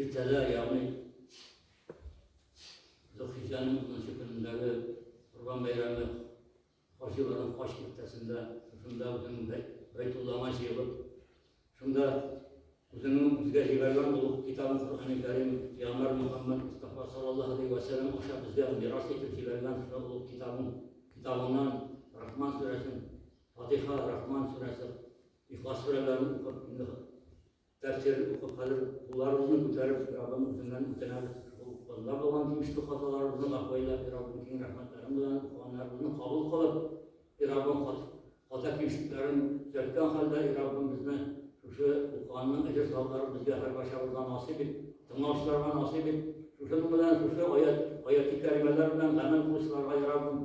Иртәдә, ягъни Зөлхиҗҗәнең унынчы көнендәге Корбан бәйрәме хаҗиларның хаҗ киртәсендә, шушында үзенең бәй, Бәйтуллама җыелып, шунда үзенең үзгә җибәргән булып китабын Коръәни Кәрим Пиямбар Мөхәммәд Мустафа саллаллаһу алейһи ва сәлләм аша безгә мирас итеп җибәргән шул булып китабын китабыннан Рахман сүрәсен, Фатиха, Рахман сүрәсе, Ихлас сүрәләрен укып, инде Тәфсир укып хәзер кулларыбызны күтәреп Раббым үзеннән үтенәбез, шул бында булган тимешле хаталарыбызны гафуәйләп и Раббым киң рәхмәтләрең белән укыганнарыбызны кабул кылып и Раббым хата кимшлекләрен төзәткән хәлдә и Раббым безне шушы укыганның әҗер савапларын безгә һәрбарчабызга насыйп ит, тыңлаучыларга насыйп ит, шушының белән шушы аят аяти кәримәләр белән гамәл кылучыларга и Раббым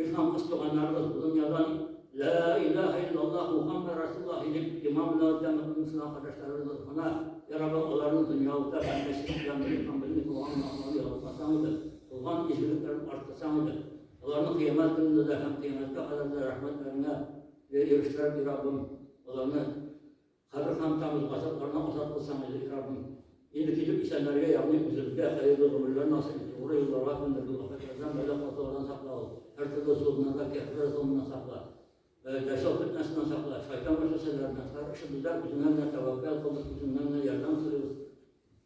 Ир һәм кыз туганнарыбыз дөньядан Лә илаһә иллаллаһ Мухаммәд Расуллаһи дип иман белән үткән мөселман кардәшләребез гөнаһ, я Раббы, аларны дөнья утта һәм мәчет белән бер һәм белми булган гөнаһларны ялгатмасаң иде, булган изгелекләрен арттырсаң иде, аларны кыямәт көнендә дә һәм кыямәткә кадәр дә рәхмәтләреңә ирештереп, и Раббым, аларны Хәзер һәм тагын газапларны азат кылсаң иде, и Раббым! Инде китеп исәннәргә, ягъни үзебезгә хәерле гомерләр насыйп ит, тугры юлларга күндергел, афәтләрдән, бәла-казалардан саклау, һәртөрле золымнарга, кәферләр золымыннан сакла, дәҗҗал фетнәсеннән сакла, шайтан вәсвәсәләреннән, һәр эшебездә үзеңә генә тәвәккәл кылдык, үзеңнән генә ярдәм сорыйбыз.